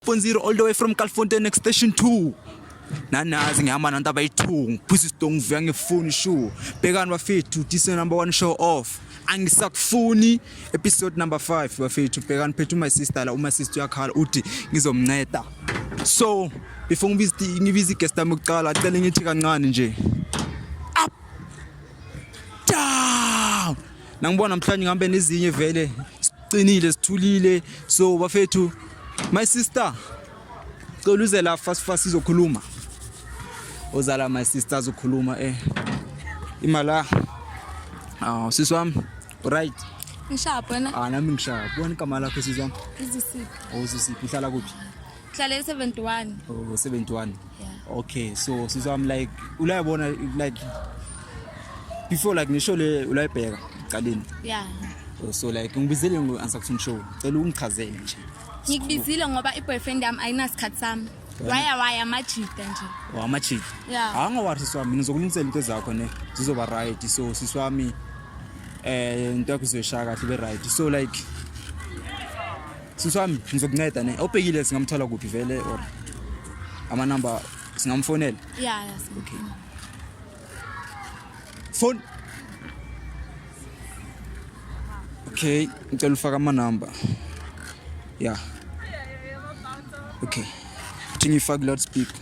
Fonziro all the way from Calfontein next station 2 nanazi ngihamba nanto abayi-two ngiphuza isidongo ngivuya ngifuni shu bhekani bafethu this number one show off angisakufuni episode number five bafethu bhekani phethu my sister la uma sister uyakhala uthi ngizomnceda so before ngibiza igest yami yokuqala cele ngithi kancane nje Nangibona namhlanje ngihambe nezinye vele siqinile sithulile so bafethu my sister cela uze la fast fast izokhuluma ozala my sister azokhuluma eh imala aw ah, sisi wami right ngishaya bona ah nami ngishaya bona igama lakho sisi wami izisiphi awuzisiphi oh, uhlala kuphi Ngihlale 71. Oh 71. Yeah. Okay, so since I'm like ulayibona like before like nisho le ulayibheka qaleni. Yeah. Oh, so like ngibizele ngo answer to show. Cela ungichazele nje. Ngikubizile ngoba i boyfriend yami ayinasikhathi sami. waya waya amajita nje wamajita oh, yeah. hangowathi sisi wami ngizokulungisela into zakho ne zizoba right so sisi wami eh into yakho izoyishaya kahle be right so like sisi wami ngizokunceda ne obhekile singamthola kuphi vele or amanamba singamfonela ya ya okay phone okay ngicela ufaka amanamba ya okay uthi ngifake loud speaker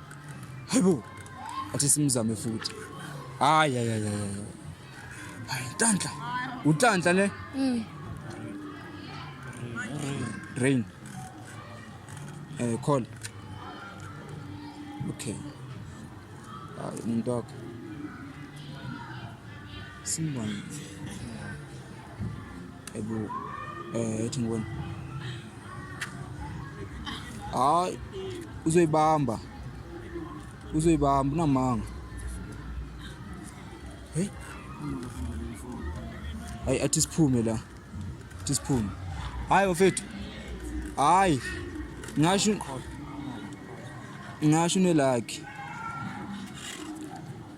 Hayibo. Athi simzame futhi. Hayi hayi hayi. Hayi Ntanhla. Utanhla ne? Mm. Rain. Eh call. Okay. Hayi umuntu wakho. Simbani. Ebu eh ethi ngibona. Hayi uzoyibamba. Uzoyibamba unamanga. Hey. Hayi athi siphume la. Athi siphume. Hayi bafethu. Hayi. Ngasho ngasho nelakhe.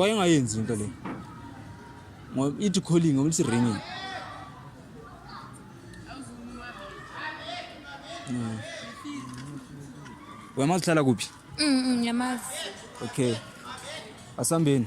wayengayenzi into le ngoba ithi calling ngoba lithi ringing mm. wemazi uhlala kuphi mm, mm, yamazi okay asambeni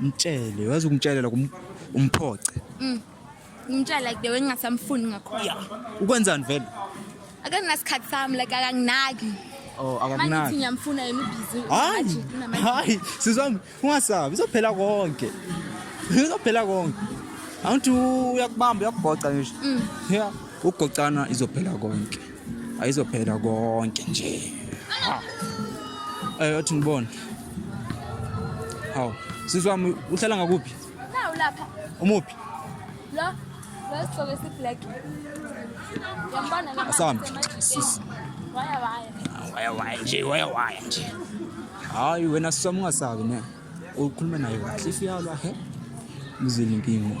mtshele wazi ungitshele la kum- umphoce Mm. Ngimtshela like the way ngingasamfuni ngakhona. ukwenzani vele Akanasikhathi sami like akanginaki. oh Manje uthi akamnaki ngiyamfuna yena ubhizi. hayi hayi sizwami ungasabi izophela konke izophela konke awuthi uyakubamba uyakubhoca ngisho Mm. ya ukugocana izophela konke ayizophela konke nje ha eh othi ngibona hawu sizwa uhlala ngakuphi nawu lapha umuphi la la sigqoke si black yambona la asambi sisi waya waya waya waya nje waya waya nje hayi wena sisoma ungasabi ne ukhuluma naye kahle ifiyalwa he mzile inkinga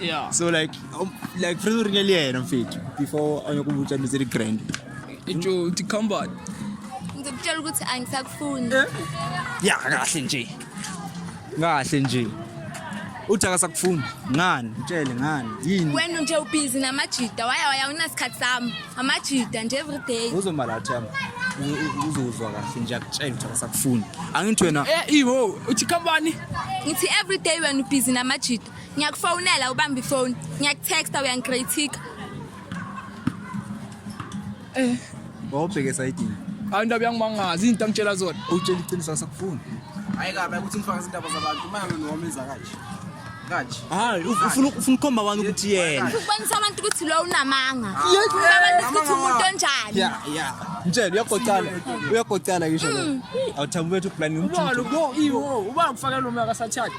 yeah. so like um, like funa uringa le yena mfethu before anyokubutsha into zeli grand itsho uthi combat ngizokutshela ukuthi angisakufuni eh? ya kahle nje kahle nje uthi akasakufuni ngani mtshele ngani yini wena nje ubhizi namajida waya waya unasikhathi sami amajida nje every day uzomalathama uzozwa kahle nje akutshela ukuthi akasakufuni angithi wena eh iho uthi kambani ngithi every day wena ubhizi namajida ngiyakufonela ubamba ifoni ngiyakutexta uyangikritika eh wawubheke esayidini hayi indaba yangimangazi izinto angitshela zona utshela iqiniso asakufuni hayi kabi ukuthi ngifaka izindaba zabantu imali noma enza kanje kanje hayi ufuna ufuna ukhomba wani ukuthi yena ukubonisa abantu ukuthi lo unamanga abantu ukuthi umuntu onjani ya ya mtshela uyagoqala uyagoqala ngisho mm. awuthambi wethu plan umjulu uba ngifakela umaka sathatha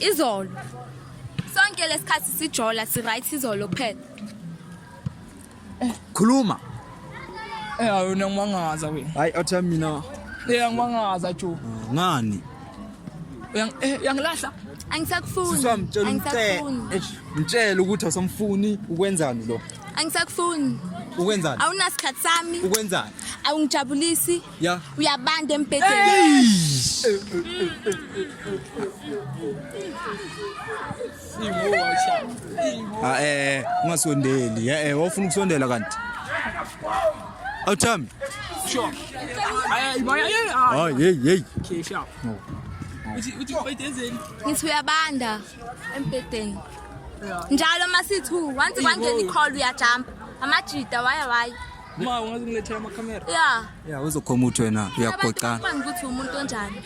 izolo sonke lesikhathi sijola si right izolo kuphela khuluma Eh awona ngimangaza wena. hayi otha mina Eh ngimangaza jo. ngani Uyang eh uyangilahla. angisakufuni siswa mtshela umcele angisakufuni Eish, mtshele ukuthi awusamfuni ukwenzani lo angisakufuni ukwenzani awunasikhathi sami ukwenzani awungijabulisi Yeah. Uyabanda embhedeni. Ah eh ungasondeli. Eh eh wofuna ukusondela kanti. Awuthami. Sure. Ay ibaya ye. Ay hey hey. Okay, sure. Uthi uthi bayidenzeni. Ngithi uyabanda embhedeni. Njalo masithi once kwangena icall uyajump. Amajita waya waya. Ma ungazi ngilethela ama camera. Yeah. Yeah uzokhoma uthi wena uyagoqana. Manje ukuthi umuntu onjani?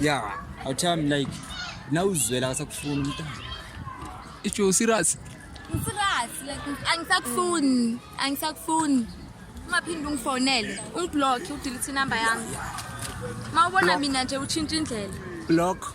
Yeah, I tell him like now uzwela akasakufuna umntana. Ijo serious. Serious like angisakufuni, angisakufuni. Ungaphinde ungifonele, ungiblock, udelete number yami. Mawubona mina nje utshintsha indlela. Block.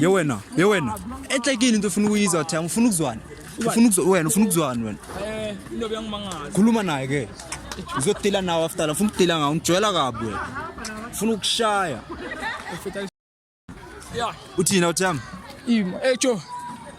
ye wena ye wena ehlekile into ofuna ukuyizwa thi angifuna ukuzwana ufuna ukuzwa wena ufuna ukuzwana wena eh into beyangimangala khuluma naye ke uzodila nawe after la ufuna ukudila ngawo ngijwayela kabi wena ufuna ukushaya uthina uthiyami ima ejo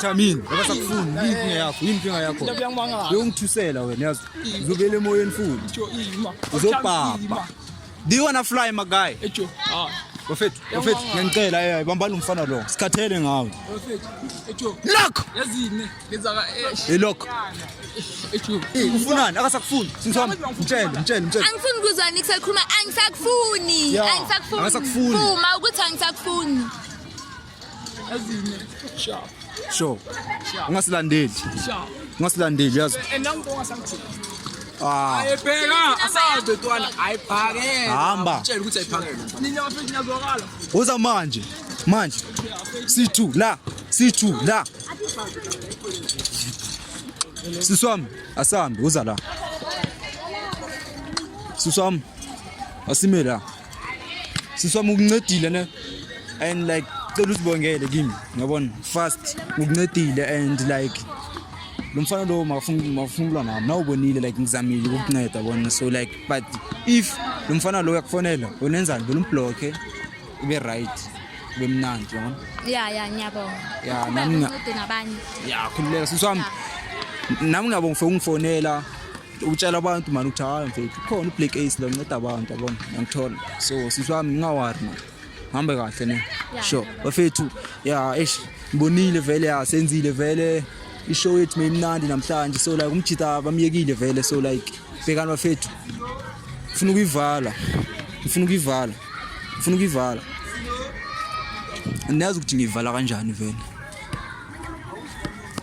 Thamini, ngoba sakufuni, yini yakho? Yini inkinga yakho? Uyongithusela wena yazi. Uzobele emoyeni futhi. Uzobhabha. Do you wanna fly my guy? Ejo. Ah. Bafethu, bafethu, ngiyacela eh bambani umfana lo. Sikhathele ngawe. Bafethu. Ejo. Lock. Yazini. Ilokho. Ufunani akasakufuni. Singisoma. Mtshele, mtshele, mtshele. Angifuni kuzwa nix ekhuluma angisakufuni. Angisakufuni. Angisakufuni. Uma ukuthi angisakufuni. Azine. Sure. Sure. Ungasilandeli. Sure. Ungasilandeli yazi. Enangu ongasangithini. Ah. Ayibheka asabe ntwana ayiphakele. Hamba. Mtshele ukuthi ayiphakele. Nina bafethu niyazwakala. Uza manje. Manje. Sithu la. Sithu la. Sisi wami asambe uza la. Sisi wami asime la. Sisi wami ukuncedile ne and like cela usibongele kimi ngiyabona fast ukuncedile and like lo mfana lowo makafunula nami nawubonile like ngizamile ukukunceda bona so like but if lo mfana lowo uyakufonela unenzani vele umbhlokhe ibe right kube mnandi yabona ya ya ngiyabonga ya nami ngincede nabanye ya khululeka sisi wami nami ngiyabonga for ungifonela utshela abantu mani ukuthi hayi mfethu khona ublack ace lo nceda abantu yabona ngiyangithola so sisi wami ngingawari mani hambe kahle ne sure bafethu ya eish ngibonile vele ya senzile vele ishow yethu meyimnandi namhlanje so like umjita bamyekile vele so like bhekani bafethu ngifuna ukuyivala ngifuna ukuyivala Ufuna ukuyivala. Niyazi ukuthi ngiyivala kanjani vele.